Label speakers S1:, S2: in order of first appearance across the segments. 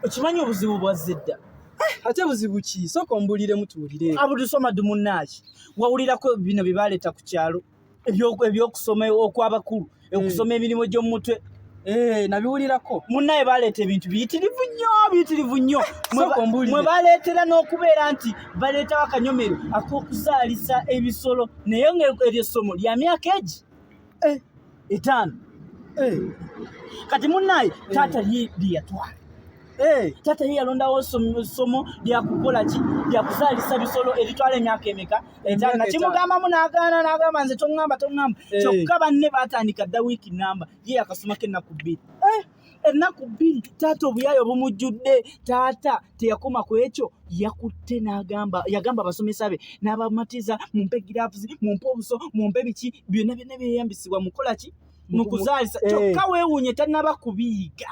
S1: okimanyi obuzibu bwa zedda ate buzibu
S2: ki sooka ombuliremu tuwulire abudusoma dumunaaki
S1: wawulirako bino bye baleeta ku kyalo ebyokusoma okwabakulu eh. okusoma emirimu gy'omumutwe eh, nabiwulirako
S2: munaye baleeta
S1: ebintu biyitirivu nnyo biyitirivu nnyo mwe baleetera n'okubeera nti baleetawo akanyomero ak'okuzaalisa ebisolo naye ngaeryo ssomo lya myaka egi eh. etaano kati munaye taata lyeyatwala Eh. taata ye yalondawo ssomo lyakukola ki lyakuzaalisa bisolo eritwala emyaka emeka etaana kimugambamu n'agaana n'agamba nze toŋŋamba toŋŋamba eh. kyokka banne baatandika dda wiiki namba ye yakasomako ennaku bbiri eh. ennaku bbiri taata obuyaayo bumujjudde taata teyakoma ku ekyo yakutte n'agamba yagamba abasomesa be n'abamatiza mumpe giravuzi mumpe obuso mumpe biki byonna byonna byeyambisibwa mukola ki mu kuzaalisa kyokka weewuunye tannaba kubiyiga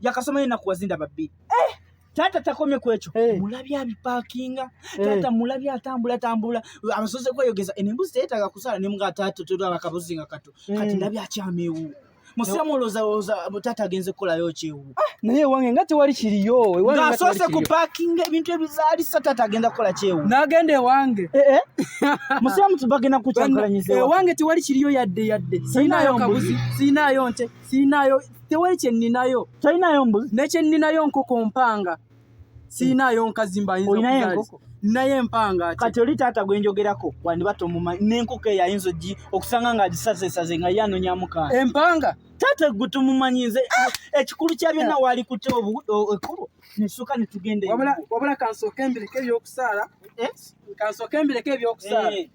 S1: yakasoma yena kuwazinda babbi eh! taata takomye ku ekyo hey. Eh. mulabye abipakinga eh. taata hey. mulabye atambula tambula abasoze kweyogeza eno embuzi teyetaaga kusala ne mga taata tera abakabuzi nga kato hey. kati eh. ndabye akyamyewu musiramu olowooza taata agenze kukolayo kyewu ah, naye ewange nga
S2: tewali kiriyo ngaasoose ku
S1: pakinga ebintu ebizaalisa taata agenda kukola kyewu nagenda ewange musiramu bagenda kukyankalanyiza ewange tewali kiriyo
S2: yadde yadde siinayo kabuzi siinaayo nte siinayo tewali kye nninayo tolinayo mbuzi ne
S1: kye nninayo nkoko
S2: mpanga siinayo nkazi mbayinza olinayo enkoko
S1: naye empanga
S2: kati oli taata gwe
S1: njogerako wandiba tomumanyi n'enkoko eyo ayinza ogi okusanga nga agisazesaze nga ye anonyamu kaana empanga taata
S2: gwe tomumanyi
S1: nze ah! ekikulu kya byonna ah! waali kutya ekkubo nesuka ne tugenda wabula kansooka
S2: embireko ebyokusaala eh? kansooka embireko ebyokusaala eh.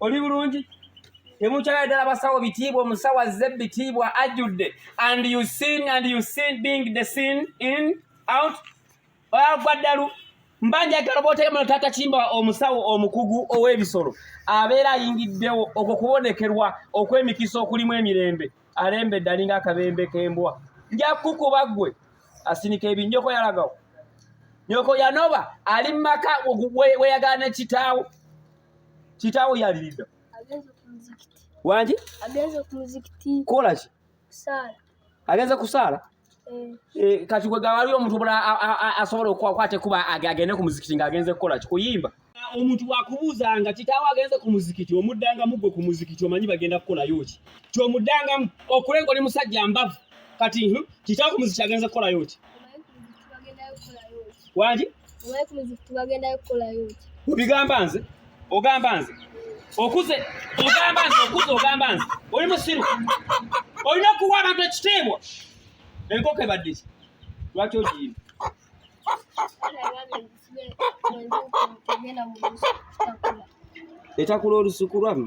S2: oli bulungi temukyala ddala basawo bitiibwa omusawo azze bitiibwa ajjudde and you seen and you seen being the seen in out agwa ddalu mbanjagala botegemuno taata kimba omusawo omukugu ow'ebisolo abeera ayingiddewo okwo kubonekerwa okw'emikisa okulimu emirembe alembedde alinga akabembe k'embwa nja kukuba ggwe asinika ebinyoko yalagawo nyoko yanoba ali mu maka weyagala ne kitaawo Kitaawo yaliridda wangi
S3: kola ki agenze
S2: kusaala eh. Eh, kati gwe gawali omuntu obula asobola okukwata ekuba agende ku muzikiti ng'agenze kukola ki kuyimba omuntu wakubuuzanga kitaawo agenze ku muzikiti omuddangamu gwe ku muzikiti omanyi bagenda kukolayo ki kyomuddangamu okulenga oli musajja mbavu kati kitaawo ku muzikiti agenze kukolayo ki waki
S3: obigamba nze
S2: ogamba nze okuze ogamba nze okuze ogamba nze oli musiru olina okuwa abantu ekitiibwa enkoko ebaddeki lwaki ogiyimu etakula olusuku lwamu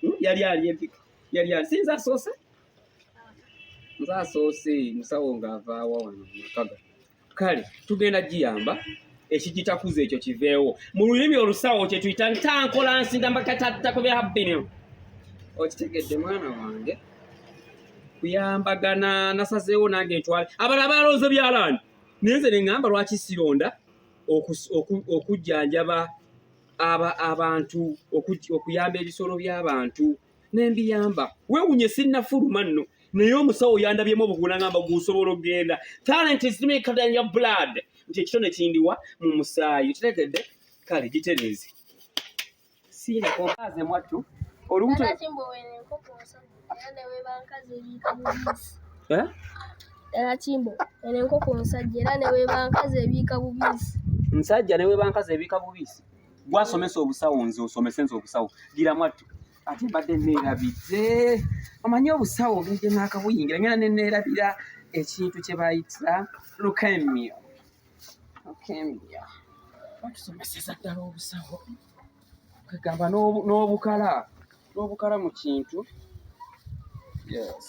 S2: Hmm, yali ali empika yali ali sinza asoose nze asoose musawo ng'avaawa wano makaga kale tugenda giyamba ekigitakuza ekyo kiveewo mu lulimi olusawo kye tuyita ntankola nsinda mbakatattako bya habbiniyo okitegedde mwana wange kuyambagana nasazeewo nange ntwale abala balonze byalaani naye nze ne ŋŋamba lwaki sironda okujjanjaba aba abantu okuyamba ebisolo by'abantu nembiyamba wewunye sinnafuluma nno naye omusawo yandabyemu obugula ngamba gusobola okugenda talent is maker than your blood nti ekitone kindiwa mu musaayi kitegedde kale gitereeze siinakokaaze mwattu olubuto
S3: Eh? era kimbo eno enkoko nsajja era newebankazi ebiika bubiisi nsajja newebankazi
S2: ebiika bubiisi gwasomesa obusawo nze osomese nze obusawo gira mwattu ate mbadde neerabidde omanyi obusawo ogenje naakabuyingira ngera neneerabira ekintu kye bayitira lukemio lukemio batusomeseza ddala obusawo kagamba n'obukala n'obukala mu kintu yes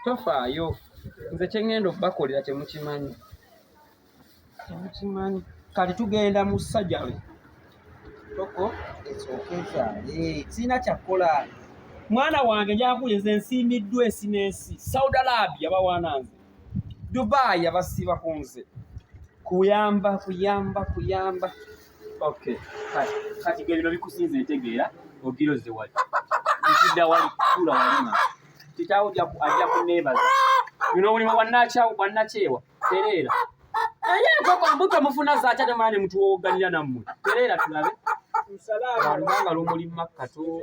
S2: tofaayo nze kyengenda okubakolera temukimanyi temukimanyi kati tugenda mu sajale toko ekyokyezaale sirina kyakkola mwana wange njakuye nze nsiimiddwa ensi n'ensi saudi arabia bawaana nze dubai abasiiba ku nze kuyamba kuyamba kuyamba Okay. Kati kati gebino bikusinze ntegeera ogiroze wali. Nzidda wali kula walima. Kitaawo ja ku aja ku neighbors. You know when wa nacha wa nachewa. Terera. Aye ko kwa mbuto mufuna za cha tamani mtu woganira namwe. Terera tulabe. Msalama. Wanga lumuli makka to.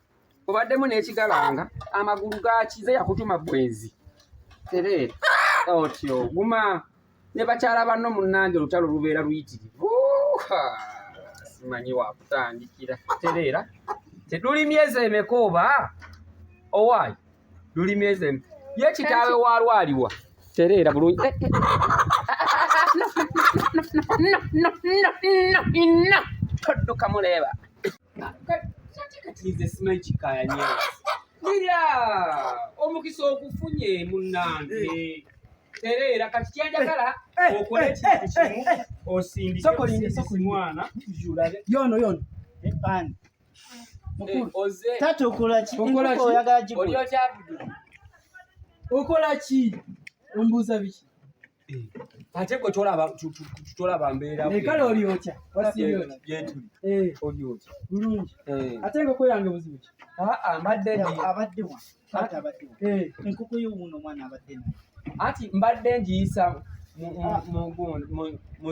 S2: obaddemu n'ekigalanga amagulu gakize yakutuma bwenzi tereera otyo guma ne bakyala banno munnange olutalo lubeera luyitirivu simanyi wakutandikira tereera teduli myezi emeka oba owaayi luli myezi emeka ye kitaawe wa lwaliwa tereera bulungi eh, eh, eh, todduka muleeba kati kati nze simanyi kikaya nyewe mira omukisa okufunye munange eh. tereera kati kyenjagala eh, eh, okole ekintu kimu
S1: osindikemwana yono yono ebani okolaki ombuuza biki
S2: ate gwe tolaba mbeerakale olyokya
S1: wasigyetuli
S2: olyokya bulungi
S1: ate enkoko yange buzibu ki mbadde
S2: abaddewa
S1: enkoko yo wuno omwana abadde anti mbadde
S2: ngiyisa mu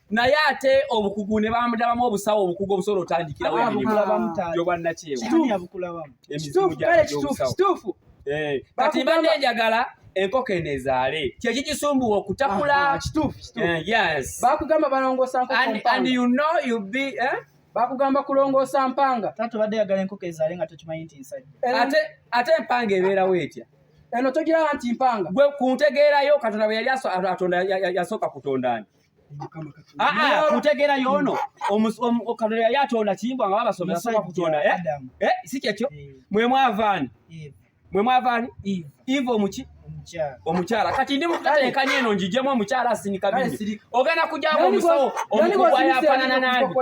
S2: naye ate obukugu ne bamudabamu obusawo obukugu obusobola otandikirawo ebirimuyobannakyeyokituufu
S1: eh,
S2: kati mba nenjagala enkoko eno ezaale kyeki kisumbuwa okutakula ah, eh,
S1: bakugamba
S2: balongosa bakugamba
S1: kulongoosa mpanga taata obadde yagala enkoko ezaale nga tokimanyi nti nsajja ate ate empanga
S2: ebeerawo etya eno togiraba
S1: nti mpanga gwe ku ntegeerayo
S2: katonda bwe yali atonda yasooka kutonda ani kutegera yono katonda yali atonda kimbwa nga babasomera soka kutonda eh? Eh, si kyekyo eh. mwe mwavaani mwe mwavaani iva omuki omukyala kati ndi mukutateekanya eno njijemu omukyala asinika bingi ogenda kujjawo omusawo omukugu ayafanana nandi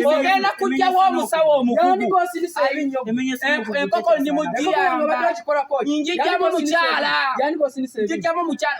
S2: ogenda kujjawo omusawo omukugu enkoko ndi mujiyamba njijjamu mukyala njijjamu mukyala